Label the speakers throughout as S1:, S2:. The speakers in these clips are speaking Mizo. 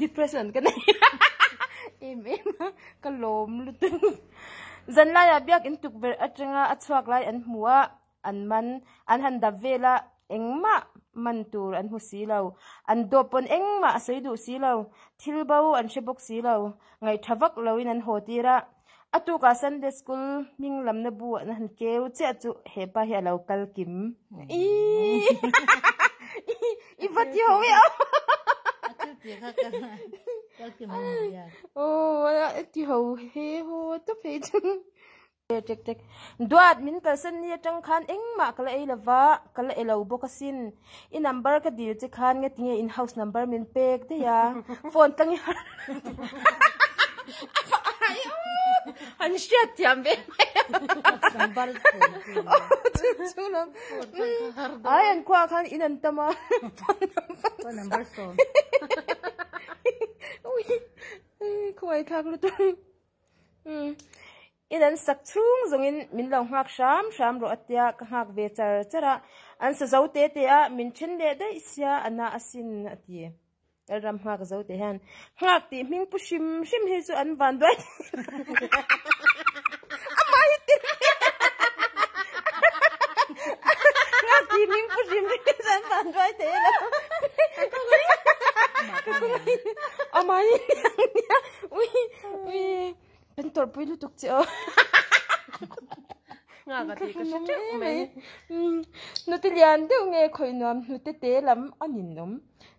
S1: Depression ka nei em em a ka lawm lut a ni. Zanlaia biakinn tukverh atanga a chhuak lai an hmu a, an man an han dap vel a, engmah man tur an hmu si lo. An dawp pawn engmah a sawi duh si lo, thil bo an hre bawk si lo. Ngaih tha vak loin an haw tir a. A tukah Sunday school hming lamna bu an han keu chiah chu hepa hi a lo kal kim i va ti ho i ti ho he haw ta phei chang duat min kalsan ni atang khan engmah ka la ei lo va ka la ei lo bawk asin. I number ka dil che khan nge tinge in house number min pek daih a phone tlang hian han hriat thiam ve mai a ai an khuaah khan in an tam a phone number sawm khuaii thlak lutuk. Umm, i nan sak chhung zawngin min lo nghak hram hram rawh a tia ka nghak ve char char a, an sa zo te te a, min then leh daih sia a na a sin a ti. Lalram nghak zo te hian, Nghak tih hming pu hrim hrim hi chu an vanduai theih ilo. Ui, ui, kan tawrh pui lutuk che o. Nga ka ti ka chak mai. Nuti lian deuh nge khoi nuam nute te lam anin um.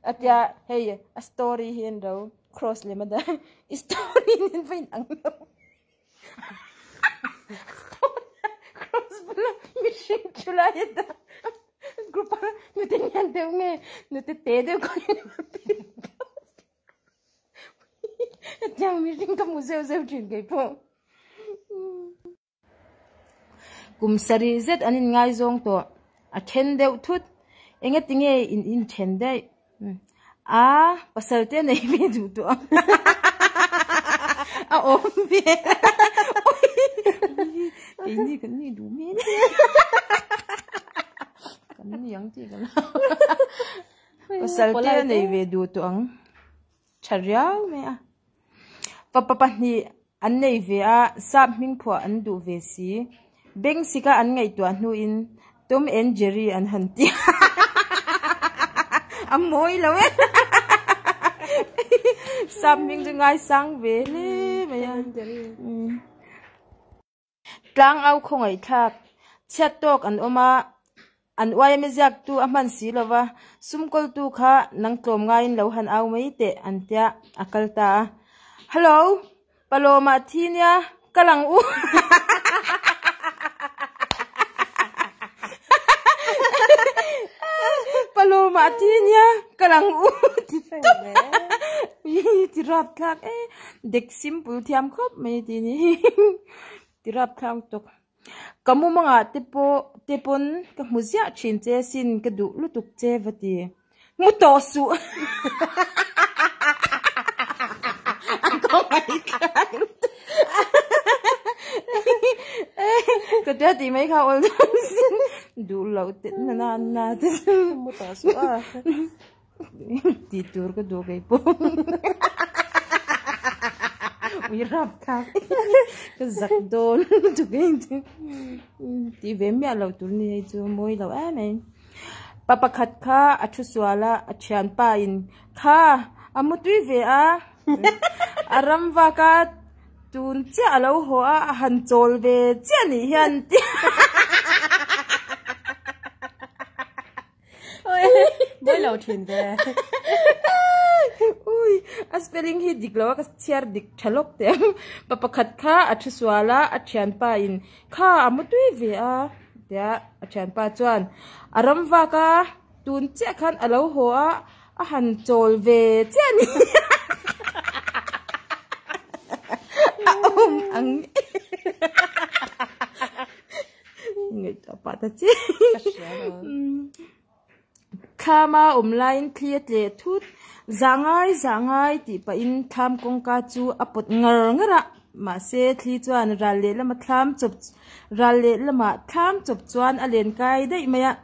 S1: Atia hei a story hi en ro cross le mada story nen vain ang lo. Cross bula mihring chu la ya da. Group a nuti lian deuh nge nute te deuh khoi nuam. Hetiang mihring ka mu zeuh zeuh thin kei pawh. Kum sarih zet an inngaizawng tawh. A then deuh thut. Enge tinge in inthen daih? Aa, pasalte nei ve duh tawh ang. A awm ve keini kan nih duh hmel e. Kan ni ang tih ka la. Ka salte a nei ve duh tawh ang tha riau mai a. Fapa pahnih an nei ve a, sap hming phuah an duh ve si. Bengsika an ngaihtuah hnuin Tom and Jerry an han ti a. A mawi lo e. Sap hming chu ngaisang ve hle mai a. Tlang au khawngaihthlak chhiat tawk an awm a, an uaia mi ziaktu a hman si lova, sumkawltu kha nang tlawm ngaiin lo han au mai teh, an tia a kal ta a. Hallo, Paloma thi nia, ka lang u Paloma thi nia, ka lang u ti tawp mi ti rapthlak e. Dek simple thiam khawp mai ti ni hing ti rap thlang tuk. Ka mu manga te pawh te pawn ka hmu ziah thin che sin ka duh lutuk che va ti. Mu tawh suh a kawngei thlak lutuk ka tia ti mai kha awldawn sin duh loh te nana anna te chu mu tawh suh a. tih tur ka duh kei pawh ui rap thak ka zak dawn tawk e chu tih ve miah loh tur ni hei chu mawi loh em em pa pakhat kha a thu sual a a thian pa in kha a mu tui ve a a ram vak a tun chiah a lo haw a a han chawl ve chiah nih hian Boi lo thin te. Ui, a spelling hi dik lo a ka chhiar dik tha lawk teh ang. Pa pakhat kha a thu sual a, a thianpa in kha a mu tui ve a. Tia a thianpa chuan a ram vak a, tun chiah khan a lo haw a, a han chawl ve chiah ni. A awm ang e. Ngei ta pa ta che. Thlama awm laiin thli a tle thut. Za ngai za ngai tih pahin thlam kawngka chu a pawt ngar ngar a. Mahse thli chuan ral leh lama thlam chawp ral leh lamah thlam chawp chuan a len kai daih mai a.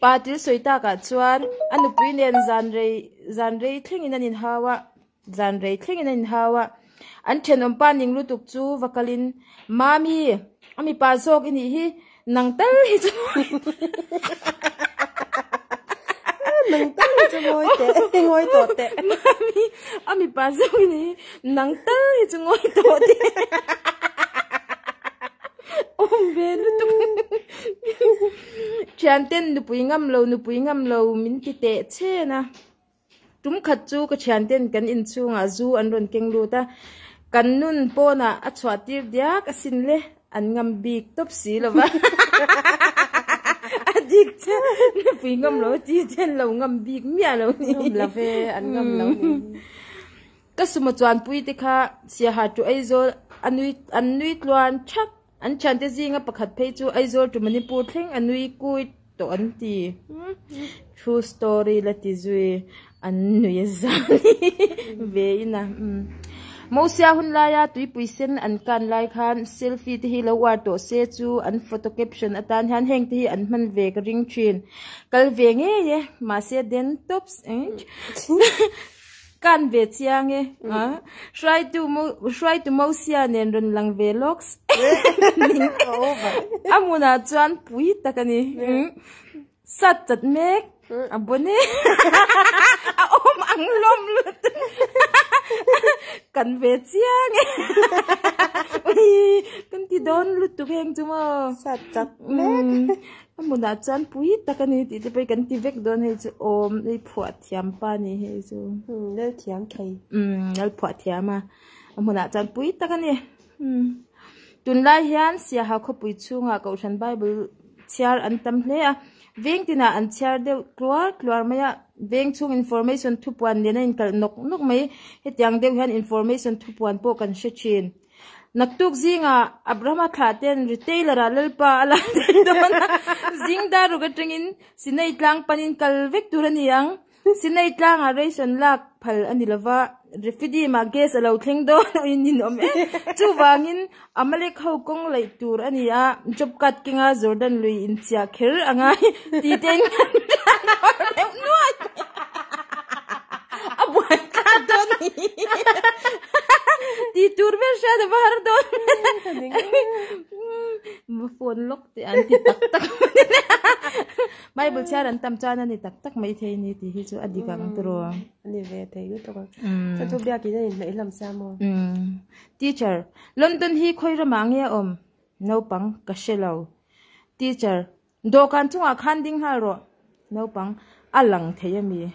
S1: Pa Til sawi tak ah chuan a nupui nen zan rei zan rei thleng in an in hau a, zan rei thleng in an in hau a. An thenawm pa ning lutuk chu va kal in, Mami, a mipa zawk i nih hi, nang tal hi chu
S2: ngawi tawh teh. Mami,
S1: a mipa zawk i nih hi, nang tal hi chu ngawi tawh teh. Awm ve lutuk. Thianten nupui ngam lo, nupui ngam lo min ti teh chen a. Tum khat chu ka thianten kan in chhungah zu an rawn keng lut a. Kan nun pawnah a chhuah tir diak asin le, an ngam bik tawp si lo va. A dik che, nupui ngam lo ti chen lo, ngam bik miah lo ni. Ngam lo ve, an
S2: ngam lo ni. Ka
S1: sum a chuanpuite kha Siahaṭu Aizawl a nui, an nui tluan ṭhak. An thiante zinga pakhat phei chu Aizawl to Manipur thleng a nui kuit tawh an ti. True story la ti zui an nui zan ve in a. Mosia hun laia tuipui sen an kan lai khan selfie te hi lo uar tawh se chu an photo caption atan hian heng te hi an hman ve ka ring thin. Kal ve ngei e mahse den tops. Kan ve chiang e. Hruaitu Hruaitu Mosia nen rawn lang ve lawk se. A hmunah chuan pui tak a ni. Sat chat mek a bawn e. A awm ang lawm lut. Kan ve chiang e. Kan ti dawn lutuk heng chu maw. Sat chat
S2: mek. A hmunah
S1: chuan pui tak a ni tih te pawh kan ti vek dawn hei chu awm i phuah thiam pa nih hei chu umm lalthiam
S2: thei umm lalphuah
S1: thiam a a hmunah chuan pui tak a ni umm tunlai hian siaha khawpui chhungah kohhran bible chhiar an tam hle a veng tinah an chhiar deuh tluar tluar mai a veng chhung information thupuan liana inkalh nawk nawk mai hetiang deuh hian information thupuan pawh kan hre thin. Naktuk zingah Abrahama thlah ten retailer ah lalpa a la thei dawn a, zing dar ruk atangin Sinai tlang pan in kal vek tur a ni ang. Sinai tlang ah race an lak phal a ni lo va, Refidim ah gas a lo thleng dawn ui nin awm e. Chuvangin Amalek ho kawng laih tur a ni a, Job kat keng a Jordan lui in chiah kher a ngai. tite in kan tlan bawr deuh nuai a buai tlat dawn ni ti tur ber hriat a var dawn ma phone lock teh an ti tak tak bible chhiar an tam chuan a ni tak tak mai thei ni ti hi chu a dik ang tur aw a ni ve thei
S2: ni tawk ang chu chu biak in a in hnaih lam sa mo teacher
S1: London hi khawi ram ah nge awm naupang ka hre lo teacher Dawhkan chungah khan ding nghal rawh. Naupang, A lang thei a mi?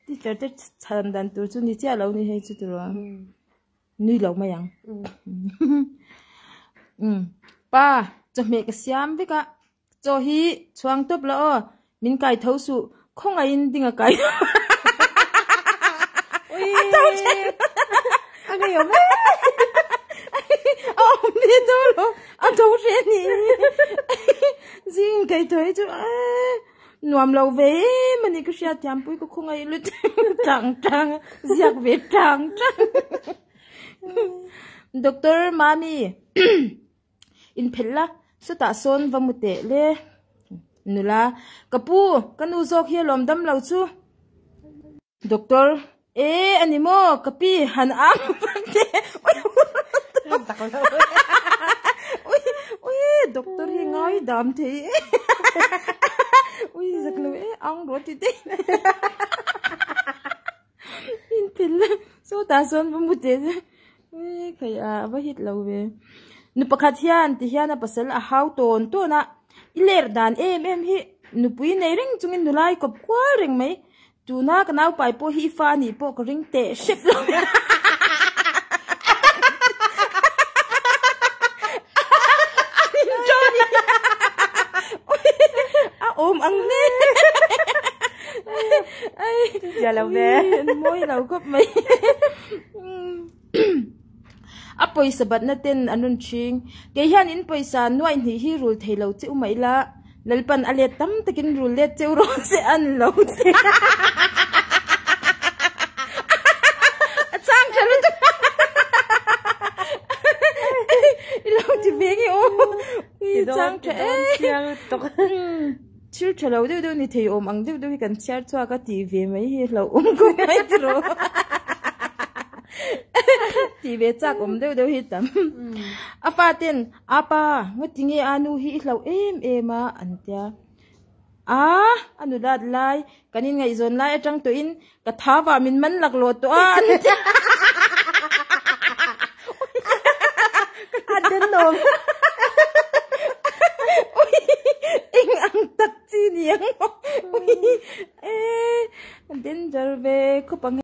S1: Teacher te chhan dan tur chu ni chiah lo ni hei chu tur ang. Nui lo mai ang. Pa, chawhmeh ka siam vek a. Chaw hi chhuang tawp la aw, min kai tho suh, khawngaihin ding a kai
S2: lo a to ṭhen a ngei awm e a awm
S1: ve dawn lo a to hreh a ni zingin kai tho hi chu nuam lo ve em a ni ka hria thiampui ka khawngaih lut ṭang ṭang a ziak ve ṭang ṭang doctor mami In phelh la, sawtah sawn va mu teh le. Nula, Ka pu, ka nu zawk hi a lawm dam lo chu. Doctor, Ee a ni maw? Ka pi han ang vang te. Ui, doctor hi ngai dam thei e. Ui zak lo e, ang rawh tite. intel a sawtah sawn va mu teh chuan ih phei a va hit lo ve nu pakhat hian ti hian a pasal a hau tawn tawn a i ler dan em em hi nupui nei reng chung in nulai kawp kual reng mai tuna ka naupai pawh hi i fa anih pawh ka ring teh hrep lo a awm ang le. Tia lo ve.
S2: Mawi lo khawp
S1: mai. A pawisa batna ten an rawn ching. Kei hian in pawisa nuai hnih hi rul thei lo che u mai la. Lalpan a let tam takin rul let che u rawh se an lo ti a. A chang tha lutuk. I lo ti ve nge aw. I chang tha e. Thil tha lo deuh deuh ni thei awm ang deuh deuh hi kan chhiar chhuak a tih ve mai hi hlauh awm khawp mai chu rawh tih ve chak awm deuh deuh hi tam a fa ten a pa ngaw ti nge a nu hi i hlauh em em a an tia a a nu dat lai kan in ngaihzawn lai atang tawh in. Ka thava min man lak lo tawh a. A den
S2: lawm.
S1: Ui, eng ang tak chi ni ang maw? Ui, eh, a danger ve khawp ang he.